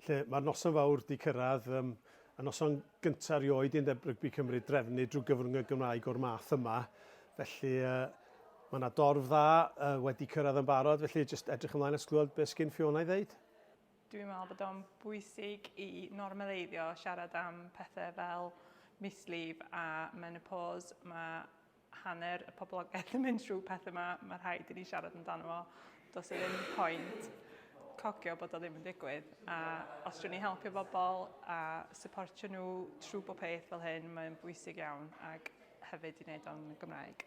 lle mae'r noson fawr 'di cyrraedd, yym, y noson gynta' erioed i Undeb Rygbi Cymru drefnu drwy gyfrwng y Gymraeg o'r math yma, felly yy mae 'na dorf dda yy wedi cyrraedd yn barod, felly jyst edrych ymlaen at glywed beth sgyn Fiona i ddeud. Dwi'n meddwl bod o'n bwysig i normaleiddio siarad am pethe fel mislif a menopos, ma' hanner y poblogaeth yn mynd trwy pethau yma, mae rhaid i ni siarad amdano fo. Does e ddim pwynt cogio bod o ddim yn digwydd. A os dwi'n ni helpu bobl a supportio nhw trwy bob peth fel hyn, mae'n bwysig iawn ac hefyd i wneud o'n Gymraeg.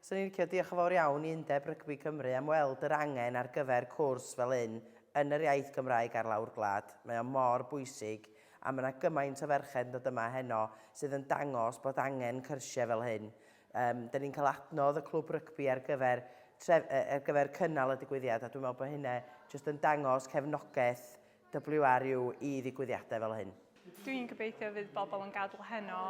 Swn i'n licio diolch yn fawr iawn i Undeb Rygbi Cymru am weld yr angen ar gyfer cwrs fel hyn yn yr iaith Gymraeg ar lawr gwlad. Mae o mor bwysig A mae yna gymaint o ferched yn dod yma heno sydd yn dangos bod angen cyrsiau fel hyn. Yym, dan ni'n cael adnodd y clwb rygbi ar gyfer, tref, ar gyfer cynnal y digwyddiad a dwi'n meddwl bod hynna jyst yn dangos cefnogaeth WRU i ddigwyddiadau fel hyn. Dwi'n gobeithio fydd bobl yn gadael heno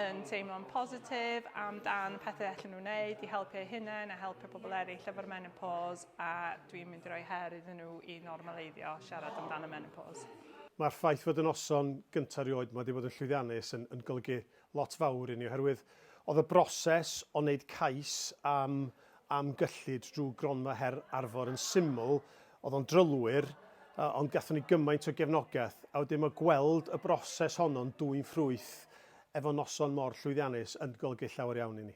yn teimlo'n positif am dan pethau allan nhw'n wneud i helpu eu hunain a helpu pobl eraill efo'r menopos a dwi'n mynd i roi her iddyn nhw i normaleiddio siarad amdano menopos. Mae'r ffaith fod y noson gynta' rioed 'ma 'di bod yn llwyddiannus yn yn golygu lot fawr i ni oherwydd oedd y broses o wneud cais am am gyllid drwy Gronfa Her Arfor yn syml, oedd o'n drylwyr, yy ond gathon ni gymaint o gefnogaeth a wedyn ma' gweld y broses honno'n dwyn ffrwyth efo noson mor llwyddiannus yn golygu llawer iawn i ni.